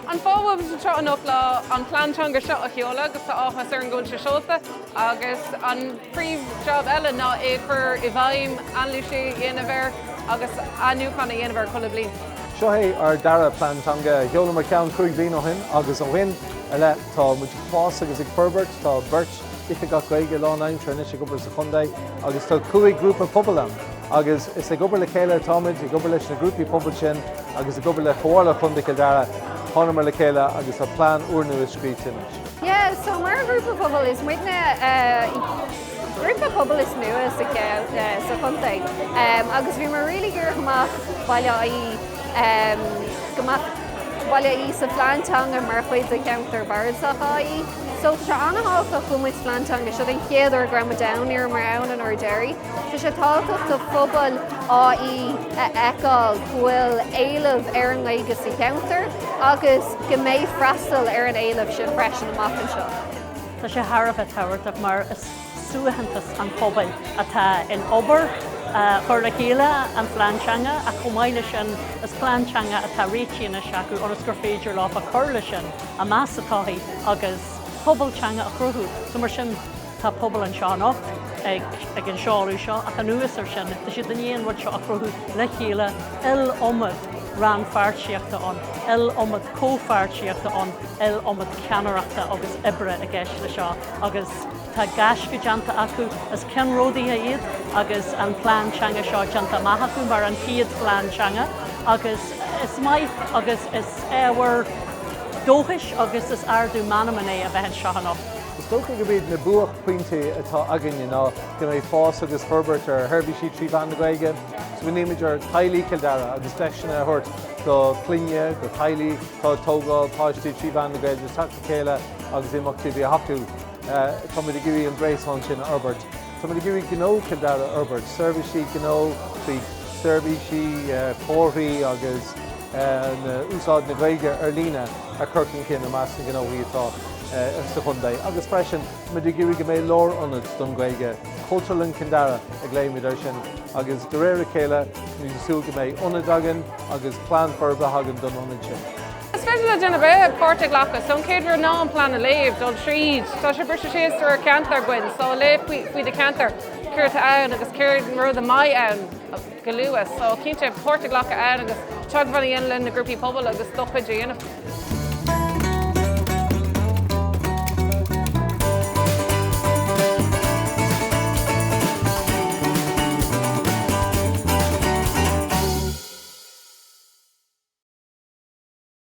An fáth a bhfuil muid anseo anocht ná an plean teanga seo a sheoladh agus tá áthas orainn go bhfuil sé seolta agus an príomh jab eile ná é a chur i bhfeidhm, anailís a dhéanamh air agus athnuachan a dhéanamh air chuile bhliain. Seo é ár dara plean teanga. Sheolamar ceann cúig bliana ó shin agus ó shin i leith tá muid ag fás agus ag forbairt. Tá beirt. Oifigeach Gaeilge lánaimseartha anois ag obair sa chontae agus tá cúig ghrúpa pobail ann agus is ag obair le chéile atáimid, ag obair leis na grúpaí pobail sin agus ag obair le Comhairle Chontae Chill Dara. Thángamar le chéile agus tá plean úrnua scríofa anois. Yeah, so mar ghrúpa pobail is muidne grúpa pobail is nua sa chontae agus bhíomar really ag iarraidh go mbeadh Baile Átha Í go mbeadh Baile Átha Í sa phlean teanga mar chuid de cheantar Bardasach Átha Í. So tá sé an-tábhachtach go bhfuil muid sa phlean teanga agus seo an chéad uair go raibh muid ann, ní raibh muid ann an uair deiridh. Tá sé tábhachtach do phobal Átha Í a fheiceáil go bhfuil éileamh ar an nGaeilge sa cheantar agus go mbeidh freastal ar an éileamh sin freisin amach anseo. Tá sé thar a bheith tábhachtach mar is suaitheantas an phobail atá in obair chur le chéile an phlean teanga ach chomh maith leis sin is plean teanga atá réitithe anois acu ionas gur féidir leo a chur leis sin a meas sa todhchaí agus pobal teanga a chruthú so mar sin tá pobal anseo anocht ag an seoladh seo ach anuas ar sin tá siad tar éis an rud seo a chruthú le chéile iliomad rannpháirtíochta ann iliomad comhpháirtíochta ann iliomad ceannaireachta agus oibre i gceist le seo. agus tá gaisce déanta acu is ceannródaithe iad agus an plean teanga seo déanta amach acu mar an chéad phlean teanga agus is maith agus is ábhar dóchais agus is ardú meanman é a bheith anseo anocht. Is dócha gurb iad na buaicphointí atá againne ná go mbeidh fás agus forbairt ar sheirbhísí trí mheán na Gaeilge, so bhunaíomar Teaghlaigh Chill Dara agus deiseanna a thabhairt do chlainne, do theaghlaigh atá ag tógáil páistí trí mheán na Gaeilge, chéile agus imeachtaí a bheith acu. Tá muid ag iarraidh an gréasán sin a fhorbairt. Tá muid ag iarraidh gnó Chill Dara a fhorbairt, seirbhísí gnó faoi sheirbhísí, comharthaí agus úsáid na Gaeilge ar líne a chur chun cinn i measc na ngnóthaí atá sa chontae. Agus freisin, tá muid ag iarraidh go mbeidh lárionad don Ghaeilge, Cultúrlann Chill Dara a ghlaoimid air sin, agus de réir a chéile, tá muid ag súil go mbeidh ionad againn agus plean forbartha againn don ionad sin. Is féidir le duine ar bith páirt a ghlacadh. So an chéad rud ná an plean a léamh, dul tríd. Tá sé briste síos de réir ceantar againn, so léigh faoi do cheantar, céard tá ann agus céard iad na rudaí a bheidh ann go luath. So cinnte páirt a ghlacadh ann agus teagmháil a dhéanamh le na grúpaí pobail agus do chuid a dhéanamh.